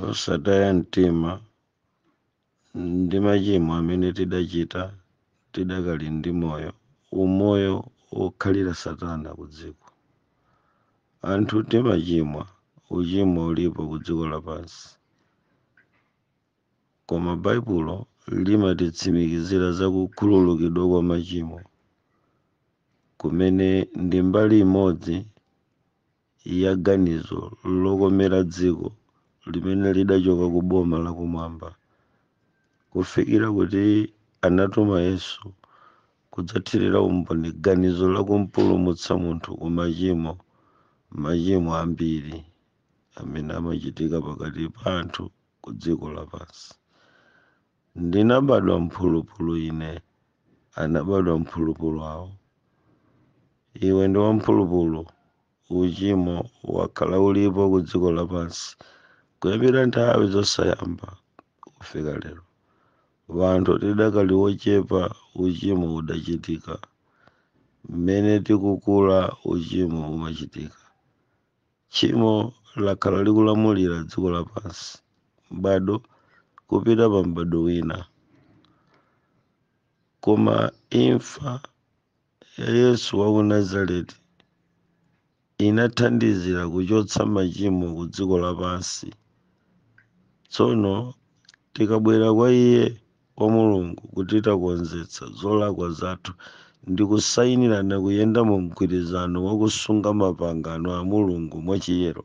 osataya mtima ndi machimo amene tidachita tidakali ndi moyo umoyo wokhalira satana ku dziko anthu timachimwa uchimo ulipo ku dziko lapansi koma baibulo limatitsimikizira za kukhululukidwa kwa machimo kumene ndi mbali imodzi ya ganizo lokomera dziko limene lidachoka ku boma lakumwamba kufikira kuti anatuma Yesu kudzathirira umboni ganizo la kumpulumutsa munthu ku machimo machimo ambiri amene amachitika pakati pa anthu ku dziko lapansi. Ndinabadwa mphulupulu ine, anabadwa mphulupulu awo. Iwe ndi wamphulupulu. Uchimo wakhala ulipo ku dziko lapansi kuyambira nthawi zosayamba kufika lero. Wanthu tidakali wochepa, uchimo udachitika. Mmene tikukula, uchimo umachitika. Tchimo lakhala likulamulira dziko lapansi, m'bado kupita pa m'bado wina. Koma imfa ya Yesu wa ku Nazareti inathandizira kuchotsa machimo ku dziko lapansi. Tsono tikabwera kwa Iye kwa Mulungu kuti takonzetsa zolakwa zathu ndi kusayinirana kuyenda mu mgwirizano wa kusunga mapangano a Mulungu mwachiyero.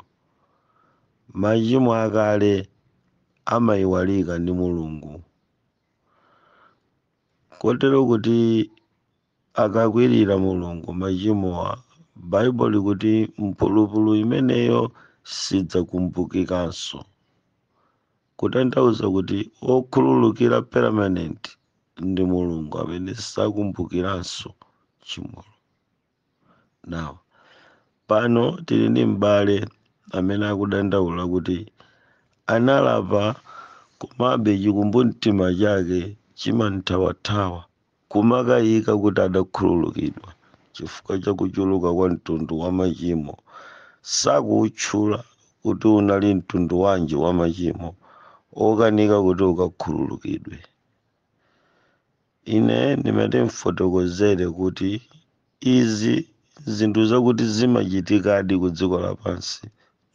Machimo akale amayiwalika ndi Mulungu kotero kuti akakwirira Mulungu machimowa, Baibulo likuti mphulupulu imeneyo sidzakumbukikanso. kutanthauza kuti okhululukira permanent ndi mulungu amene sakumbukiranso tchimolo now pano tili ndi m'bale amene akudandaula kuti analapa komabe chikumbumtima chake chimamthawathawa Kumakayika kuti adakhululukidwa chifukwa cha kuchuluka kwa mtundu wa machimo, sakuutchula kuti unali mtundu wanji wa machimo okanika kuti ukakhululukidwe. Ine ndimati ndifotokozere kuti izi zinthu zakuti zimachitikadi ku dziko lapansi,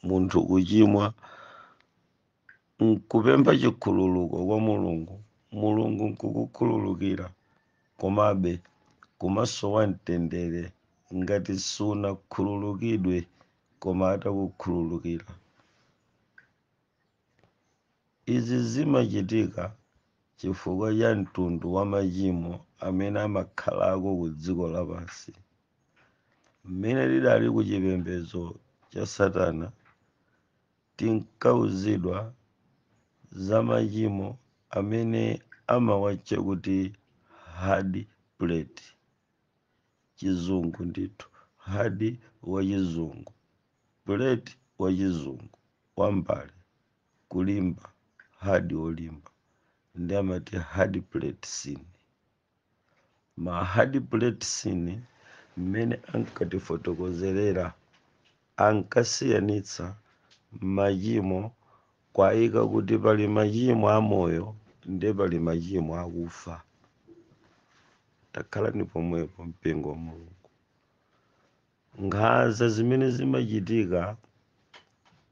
munthu kuchimwa nkupempha chikhululuko kwa Mulungu, Mulungu nkukukhululukira, komabe kumasowa mtendere ngati sunakhululukidwe koma atakukhululukira. Izi zimachitika chifukwa cha mtundu wa machimo amene amakhalako ku dziko lapansi. Mmene tidali ku chipembedzo cha Satana, Tinkauzidwa za machimo amene amawatcha kuti hard plate, chizungu ndithu, hard wa chizungu, plate wa chizungu, wa mbale, kulimba, hard wolimba, ndiye amati hard plate sin. ma hard plate sin mmene ankatifotokozerera ankasiyanitsa machimo kuwaika kuti pali machimo amoyo ndi pali machimo akufa takhalani pomwepo mpingo wa mulungu Nkhanza zimene zimachitika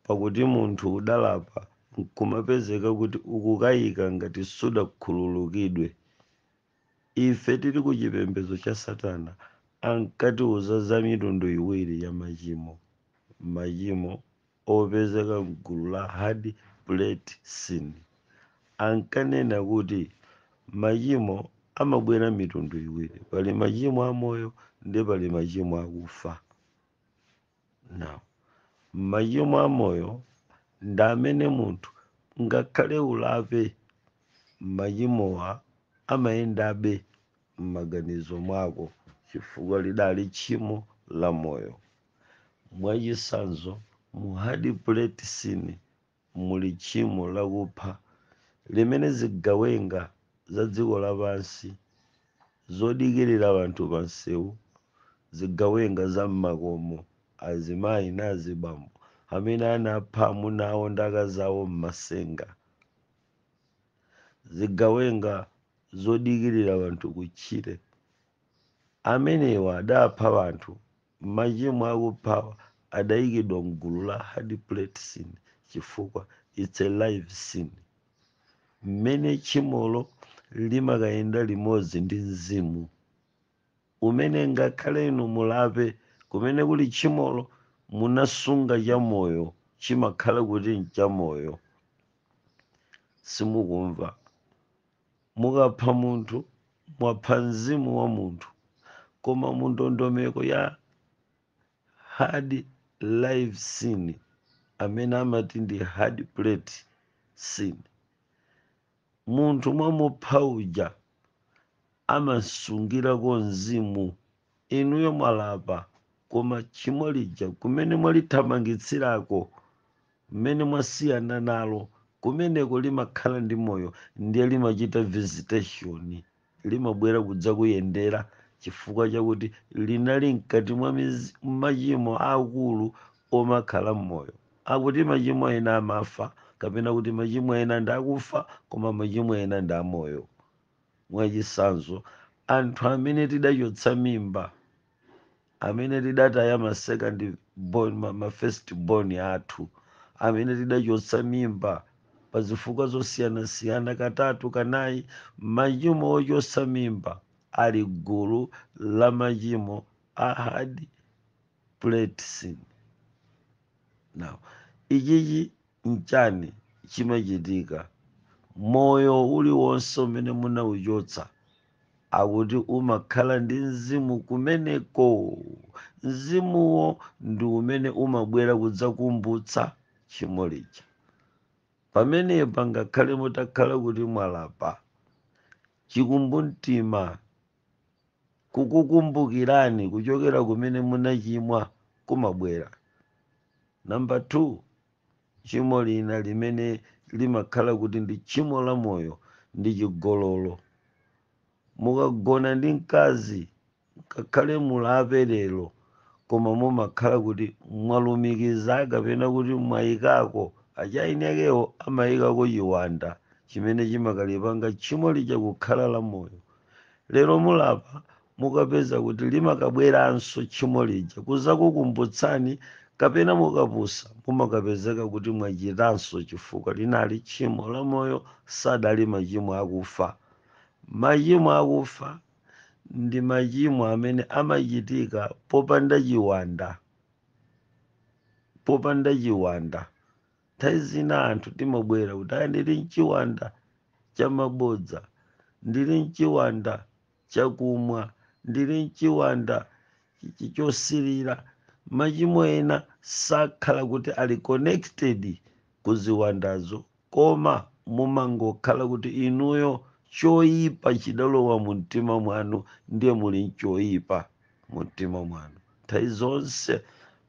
pakuti munthu udalapa nkumapezeka kuti ukukayika ngati sudakhululukidwe. Ife tili ku chipembedzo cha Satana ankatiuza za mitundu iwiri ya machimo, machimo. opezeka m'gulu la Hard Plate Sin, ankanena kuti machimo amabwera mitundu iwiri, pali machimo amoyo ndi pali machimo akufa. Now, machimo amoyo ndi amene munthu ngakhale ulape, machimowa amayendabe m'maganizo mwako chifukwa lidali tchimo la moyo. Mwachitsanzo, mu hard plate sin muli tchimo lakupha limene zigawenga za dziko lapansi zodikirira anthu pa msewu, zigawenga za m'makomo, azimayi na azibambo amene anapha amuna awo ndi akazi awo m'masenga, zigawenga zodikirira anthu kutchire. Amenewa adapha anthu Machimo akuphawa adaikidwa m'gulu la hard plate sin chifukwa it's a live sin. Mmene tchimolo limakayenda limodzi ndi mzimu umene ngakhale inu mulape kumene kuli tchimolo munasunga chamoyo chimakhala kuti nchamoyo. Simukumva. Mukapha munthu, mwapha mzimu wa munthu. Koma mu ndondomeko ya hard live sin, amene amati ndi hard plate sin, munthu mwamupha uja amasungirako mzimu Inuyo mwalapa koma tchimo lija kumene mwalithamangitsirako, mmene mwasiyana nalo, kumeneko limakhala ndi moyo ndiye limachita visitation, limabwera kudzakuyendera chifukwa chakuti linali mkati mwa machimo aakulu omakhala m'moyo. Akuti machimo ena amafa kapena kuti machimo ena ndi akufa koma machimo ena ndi amoyo. Mwachitsanzo, anthu amene tidachotsa mimba, amene tidataya ma second born, ma, ma first born athu, amene tidachotsa mimba pa zifukwa zosiyanasiyana katatu kanayi, machimo ochotsa mimba ali gulu la machimo a hard plate sin. Now, ichichi nchani chimachitika moyo uliwonse umene munauchotsa akuti umakhala ndi mzimu kumeneko mzimuwo ndi umene umabwera kudzakumbutsa tchimo lija pamenepa ngakhale mutakhala kuti mwalapa chikumbumtima Kukukumbukirani kuchokera kumene munachimwa kumabwera. Number 2, tchimo lina limene limakhala kuti ndi tchimo la moyo ndi chigololo. Mukagona ndi mkazi, ngakhale mulape lero, koma mumakhala kuti mwalumikiza kapena kuti mwayikako, achaini akewo amayikako chiwanda chimene chimakalipanga tchimo lija kukhala la moyo. lero mulapa mukapeza kuti limakabweranso tchimo lija kuzakukumbutsani kapena mukapusa mumakapezeka kuti mwachitanso chifukwa linali tchimo la moyo sadali machimo akufa machimo akufa ndi machimo amene amachitika popanda chiwanda popanda chiwanda nthawi zina anthu timabwera kuti "ayi, ndili nchiwanda cha mabodza ndili nchiwanda chakumwa ndili nchiwanda chi- chi- chosilira machimo ena sakhala kuti ali connected ku ziwandazo koma mumangokhala kuti inuyo choyipa chidalowa mu mtima mwanu ndiye muli nchoyipa mumtima mwanu. Nthawi zonse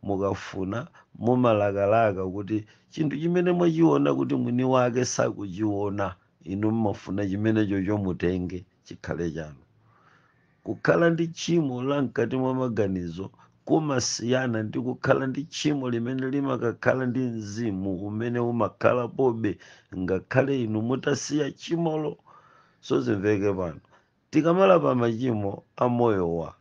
mukafuna, mumalakalaka kuti chinthu chimene mwachiona kuti mwini wake sakuchiona, inu mmafuna chimenechocho mutenge, chikhale chanu. Kukhala ndi tchimo la mkati mwa maganizo kumasiyana ndi kukhala ndi tchimo limene limakakhala ndi mzimu umene umakhalapobe ngakhale inu mutasiya tchimolo. Sozimveke pano. Tikamalapa machimo a moyowa,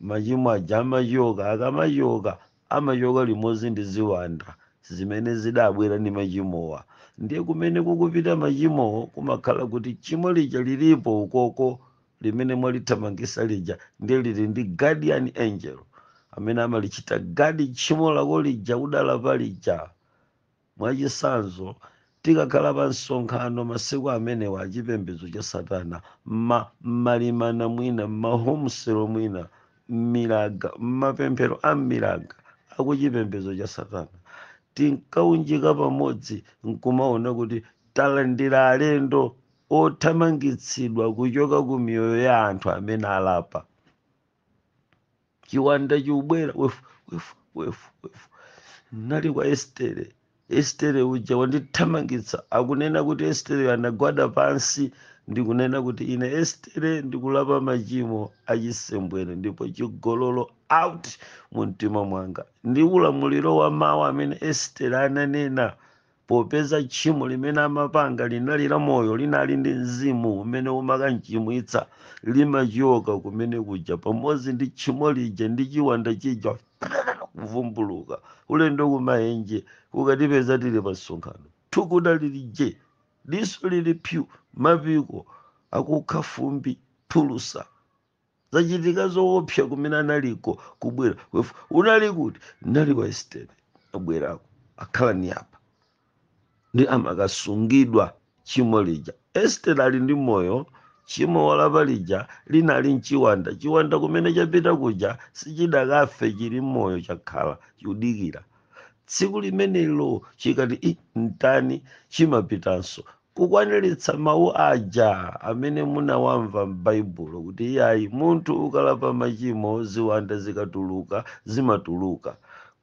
machimo aja amachoka, akamachoka amachoka limodzi ndi ziwanda zimene zidabwera ndi machimowa. Ndiye kumene kukupita machimowo kumakhala kuti tchimo lija lilipo ukoko limene mwalithamangisa lija ndiye lili ndi guardian angel amene amalichita guard tchimo lako lija udalapa lija. Mwachitsanzo, tikakhala pa msonkhano masiku amenewa a chipembedzo cha Satana, mma, mmalimana mwina, mma home cell mwina, mmiraga, mmapemphero a mmiraga a ku chipembedzo cha Satana, tinkaunjika pamodzi nkumaona kuti talandira alendo othamangitsidwa kuchoka ku miyoyo ya anthu amene alapa. chiwanda chikubwera wefu wefu wefu wefu nali kwa estere estere uja wandithamangitsa akunena kuti estereyo anagwada pansi ndikunena kuti ine estere ndikulapa machimo achisembwere ndipo chigololo out mu mtima mwanga ndi ulamuliro wa mawu amene estere ananena Popeza tchimo limene amapanga linali la moyo, linali ndi mzimu umene umakamchimwitsa, limachoka kumene kuja pamodzi ndi tchimo lija ndi chiwanda chija kuvumbuluka. Ulendo kumaenje, kukatipeza tili pa msonkhano. Thukuta lili je, diso lili psu, mapiko akukha fumbi, phulusa. zachitika zoopsa kumene analiko kubwera Wefu, unali kuti nali kwa estere abwerako akhala ni apa ndi amakasungidwa tchimo lija estere ali ndi moyo tchimo walapa lija linali mchiwanda chiwanda kumene chapita kuja sichidakafe chili moyo chakhala chikudikira tsiku limenelo chikati "Ih, mtani chimapitanso Kukwaniritsa mawu aja amene munawamva m'Baibulo kuti, Iyayi, munthu ukalapa machimo, ziwanda zikatuluka, zimatuluka.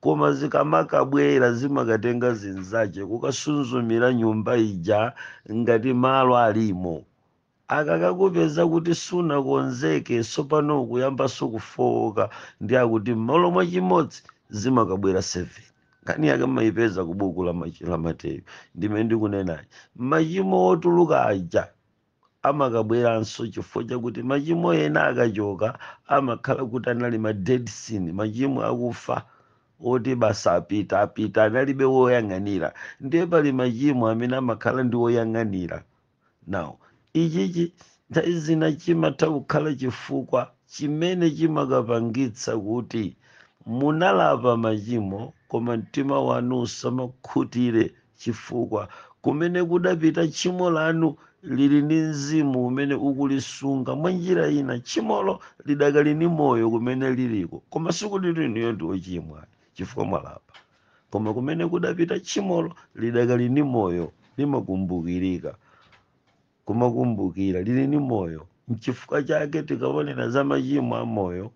Koma zikamakabwera, zimakatenga zinzache, kukasunzumira nyumba ija ngati malo alimo. Akakakupeza kuti sunakonzeke sopano ukuyambanso kufowoka ndiye akuti mmalo mwa chimodzi zimakabwera 7 nkhani yake mmayipeza ku buku la mateyu ndime ndikunenayi machimo otuluka aja amakabweranso chifukwa chakuti machimo ena akachoka amakhala kuti anali ma dead sin machimo akufa oti basi apita apita analibe woyang'anira ndiye pali machimo amene amakhala ndi woyang'anira Now, ichichi nthawi zina chimatha kukhala chifukwa chimene chimakapangitsa kuti munalapa machimo koma mtima wanu usamakhutire chifukwa kumene kudapita tchimo lanu lili ndi mzimu umene ukulisunga mwa njira ina tchimolo lidakali ni moyo kumene liliko koma sikuti inuyo ndi ochimwa chifukwa mwalapa. koma kumene kudapita tchimolo lidakali ni moyo limakumbukirika kumakumbukira lili ni moyo mchifukwa chake tikaonera za machimo a moyo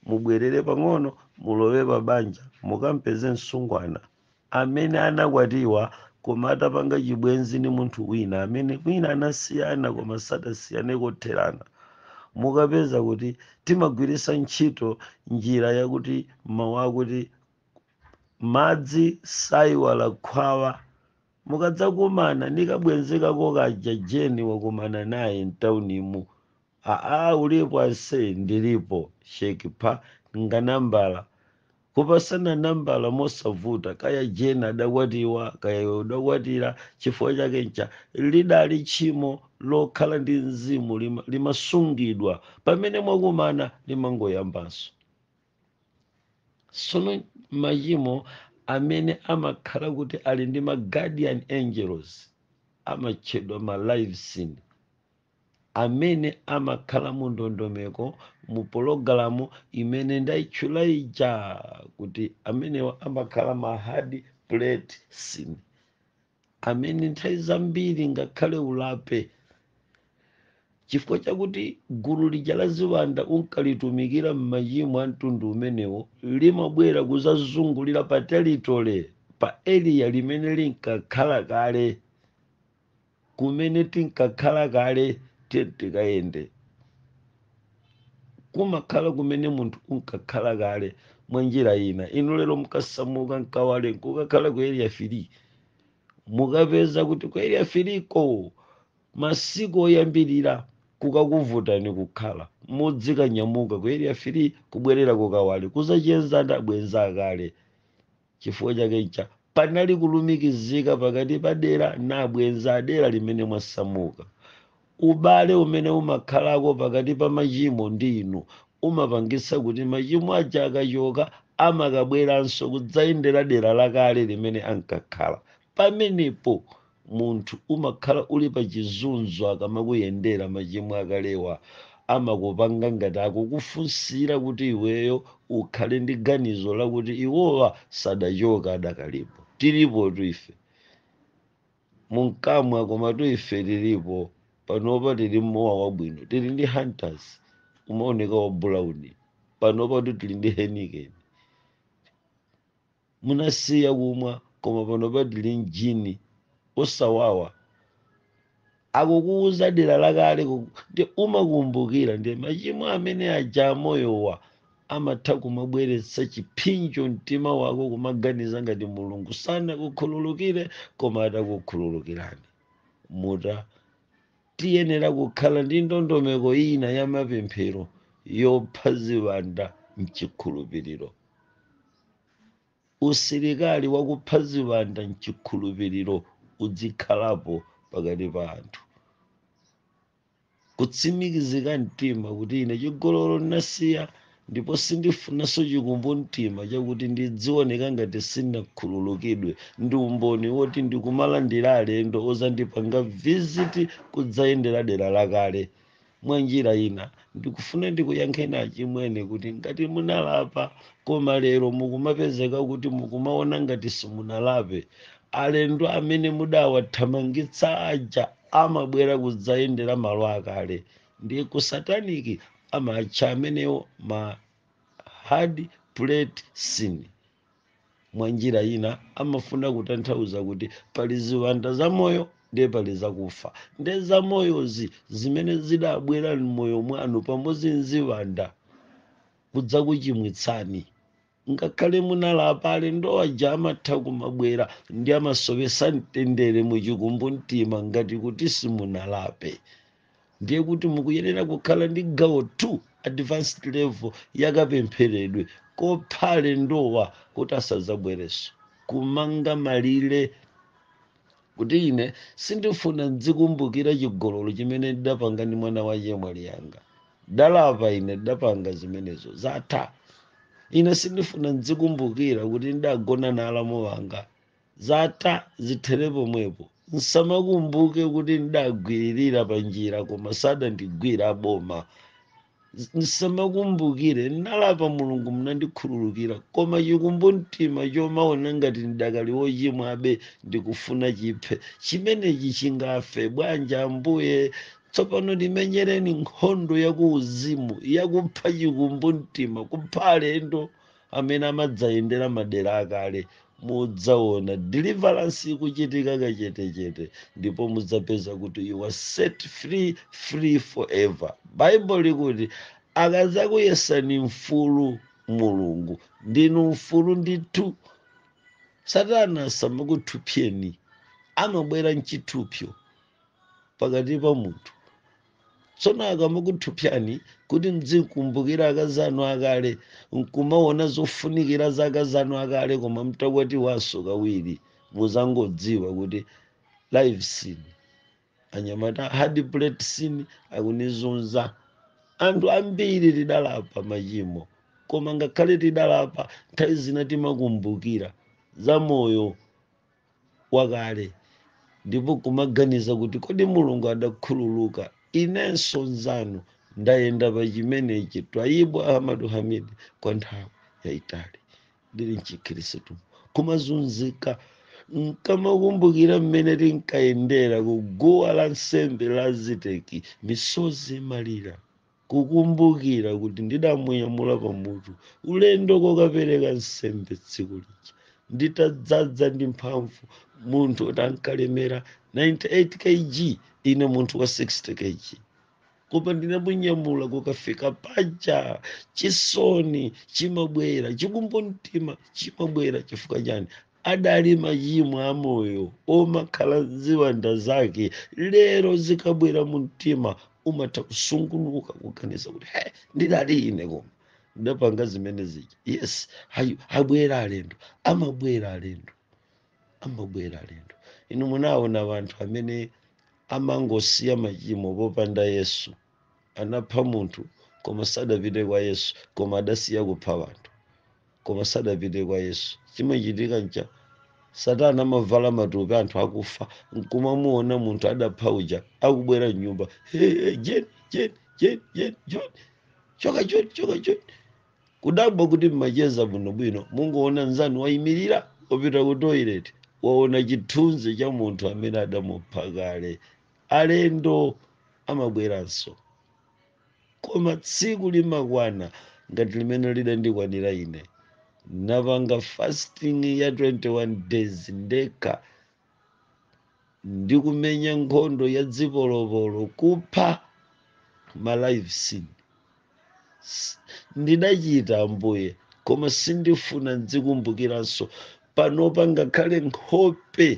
mubwerere pang'ono mulowe pa banja mukampeze msungwana amene anakwatiwa koma atapanga chibwenzi ni munthu wina amene wina anasiyana koma sadasiyane kotherana mukapeza kuti timagwiritsa ntchito njira yakuti mawu akuti madzi saiwala khwawa mukadzakumana ni kabwenzi kako kaja jeni wakumana naye mtauni mu aa ulipo ase ndilipo shekipha nganambala kupasana nambala mosavuta kaya jeni adakwatiwa kaya iwe udakwatira chifukwa chake ncha lidali tchimo lokhala ndi mzimu limasungidwa pamene mwakumana limangoyambanso sono machimo amene amakhala kuti ali ndi ma guardian angels amatchedwa ma live sin amene amakhala mu ndondomeko mu pologalamu imene ndaitchula ija kuti amenewa amakhala ma hard plate sin amene nthawi zambiri ngakhale ulape chifukwa chakuti gulu lija la ziwanda unkalitumikira m'machimo a mtundu umenewo limabwera kuzazungulira pa territory pa area limene linkakhala kale kumene tinkakhala kale tiye tikayende kumakhala kumene munthu unkakhala kale mwa njira ina inu lero mukasamuka mkawale nkukakhala ku area 3 mukapeza kuti ku area 3 ko masiku oyambirira kukakuvutani kukhala mudzikanyamuka ku area 3 kubwerera kukawale kuzacheza ndi abwenzi akale Chifukwa chake ncha panali kulumikizika pakati pa dera na abwenza adera limene mwasamuka. Ubale umene umakhalako pakati pa machimo ndi inu umapangitsa kuti machimo aja akachoka amakabweranso kudzayendera dera lakale limene ankakhala. Pamenepo munthu umakhala uli pa chizunzo akamakuyendera machimo akalewa amakupanga ngati akukufunsira kuti iweyo ukhale ndi ganizo lakuti iwowa sadachoka adakalipo. Tilipotu ife. Munkamwa komatu ife tilipo panopa tili mowa wabwino tili ndi Hunters umaoneka wa brown panopatu tili ndi Heineken. munasiya kumwa koma panopa tili m'gin osawawa akukuuza dera lakale ku- nde umakumbukira ndiye machimo amene aja amoyowa amatha kumabweretsa chipsinjo mumtima wako kumaganiza ngati mulungu sanakukhululukire koma atakukhululukirani mukutha tiyenera kukhala ndi ndondomeko ina ya mapemphero yopha ziwanda mchikhulupiriro usilikali wakupha ziwanda mchikhulupiriro udzikhalapo pakati pa anthu kutsimikizika mtima kuti ine chigololo ndinasiya ndipo sindifunanso chikumbumtima chakuti ndidzioneka ngati sinakhululukidwe ndi umboni woti ndikumalandira alendo ozandipanga visit kudzayendera dera lakale mwa njira ina ndikufuna ndikuyankheni achimwene kuti ngati munalapa koma lero mukumapezeka kuti mukumaona ngati simunalape alendo amene mudawathamangitsa aja amabwera kudzayendera malo akale nde kusataniki amatcha amenewo ma hard plate sin mwa njira ina amafuna kutanthauza kuti pali ziwanda zamoyo ndiye pali zakufa ndiye zamoyozi zimene zidabwera m'moyo mwanu pamodzi nziwanda kudzakuchimwitsani ngakhale munalapa alendo aja amatha kumabwera nde amasowesa mtendere muchikumbumtima ngati kuti simunalape ndiye kuti mukuyenera kukhala ndi gawo 2 advanced level yakapempheredwe kopha alendowa kuti asadzabwerenso kumanga malire kuti ine sindifuna ndzikumbukira chigololo chimene ndidapanga ndi mwana wa chemwali yanga ndalapa ine ndidapanga zimenezo zatha ine sindifuna ndzikumbukira kuti ndidagona na alamu wanga zatha zithere pomwepo msamakumbuke kuti ndidagwiririra pa njira koma sadandigwire aboma msamakumbukire ndalapa mulungu mnandikhululukira koma chikumbumtima chomaona ngati ndidakali wochimwabe ndikufuna chiphe chimenechi chingafe bwanji ambuye tsopano timenyereni nkhondo yakuuzimu yakupha chikumbumtima kupha alendo amene amadzayendera madera akale mudzaona deliverance ikuchitika kachetechete ndipo mudzapeza kuti you are set free free forever baibulo likuti akazakuyesani mfulu mulungu ndinu mfulu ndithu satana samakuthupsyani amabwera mchithupsyo pakati pa munthu tsono akamakuthupsyani kuti mdzikumbukira akazi anu akale nkumaona zofunikira za akazi anu akale koma mtakwatiwanso kawiri muzangodziwa kuti live sin anyamata hard plate sin akunizunza anthu ambiri tidalapa machimo koma ngakhale tidalapa nthawi zina timakumbukira za moyo wakale ndipo nkumaganiza kuti kodi mulungu adakhululuka inenso nzanu ndayenda pa chimenechi twaibu ahmadu hamid kwa nthawi yaitali ndili mchikhristu kumazunzika nkamakumbukira mmene tinkayendera kuguwa la nsembe la ziteki misozi malira kukumbukira kuti ndidamunyamula pamutu ulendo kokapereka nsembe tsiku lija nditadzadza ndi mphamvu munthu woti ankalemera 98 kg ine munthu wa 60 kg koma ndidamunyamula kukafika paja chisoni chimabwera chikumbumtima chimabwera chifukwa chani adali machimo a moyo omakhala ziwanda zake lero zikabwera mu mtima umatha kusungunuka kuganiza kuti he ndidali ine koma ndidapanga zimene zija yes ayi abwera alendo amabwera alendo amabwera alendo inu munaona wanthu amene amangosiya machimo popanda yesu anapha munthu koma sadapite kwa yesu koma adasiya kupha wanthu koma sadapite kwa yesu chimachitika ncha satana amavala matupi anthu akufa nkumamuona munthu adapha uja akubwera mnyumba hey, hey, jen jen jen jen jon choka choni choka choni kudabwa kuti mmacheza bwinobwino mungoona nzanu wayimirira wapita ku toilet waona chithunzi cha munthu amene adamupha kale alendo amabweranso koma tsiku limakwana ngati limene lidandikwanira ine napanga fasting ya 21 days ndekha ndikumenya nkhondo ya dzipolopolo kupha ma live sin ndidachita ambuye koma sindifuna ndidzikumbukiranso panopa ngakhale nkhope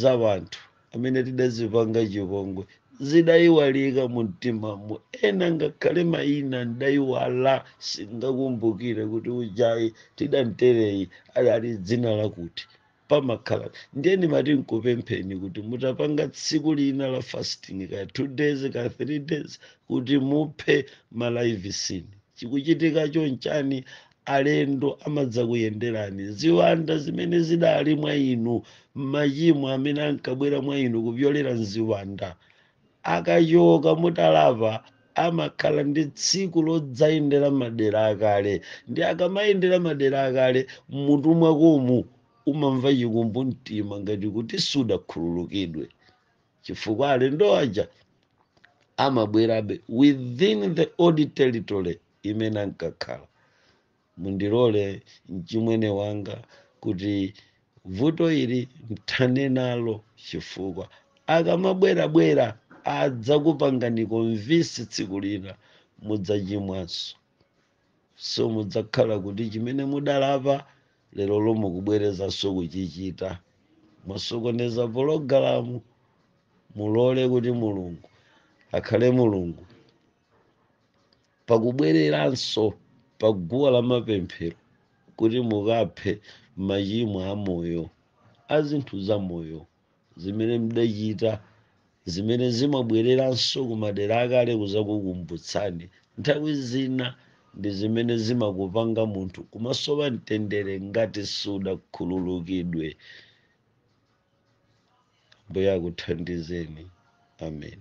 za wanthu amene tidawapanga chipongwe zidayiwalika mu mtimamo ena ngakhale mayina ndayiwala sindingakumbukire kuti ujayi tidamtereyi ali dzina lakuti pamakhala ndiye ndimati nkupempheni kuti mutapanga tsiku lina la fasting ka two days ka three days kuti muphe ma live sin chikuchitikacho nchani alendo amadzakuyenderani ziwanda zimene zidali mwa inu machimo amene ankabwera mwa inu kupyolera mziwanda akachoka mutalapa amakhala ndi tsiku lodzayendera madera akale ndi akamayendera madera akale mmutu mwakomu umamva chikumbumtima ngati kuti sudakhululukidwe chifukwa alendo aja amabwerabe within the old territory imene ankakhala. Mundilole mchimwene wanga kuti vuto ili mthane nalo chifukwa akamabwerabwera adzakupangani convince tsiku lina mudzachimwanso. So mudzakhala kuti chimene mudalapa lero lomwe kubwerezanso kuchichita. Mwasokoneza pologalamu, mulole kuti Mulungu akhale Mulungu. pakubwereranso pa guwa la mapemphero kuti mukaphe machimo a moyo a zinthu za moyo zimene mudachita zimene zimabwereranso ku madera akale kuzakukumbutsani nthawi zina ndi zimene zimakupanga munthu kumasowa mtendere ngati sudakhululukidwe ambuye akuthandizeni amen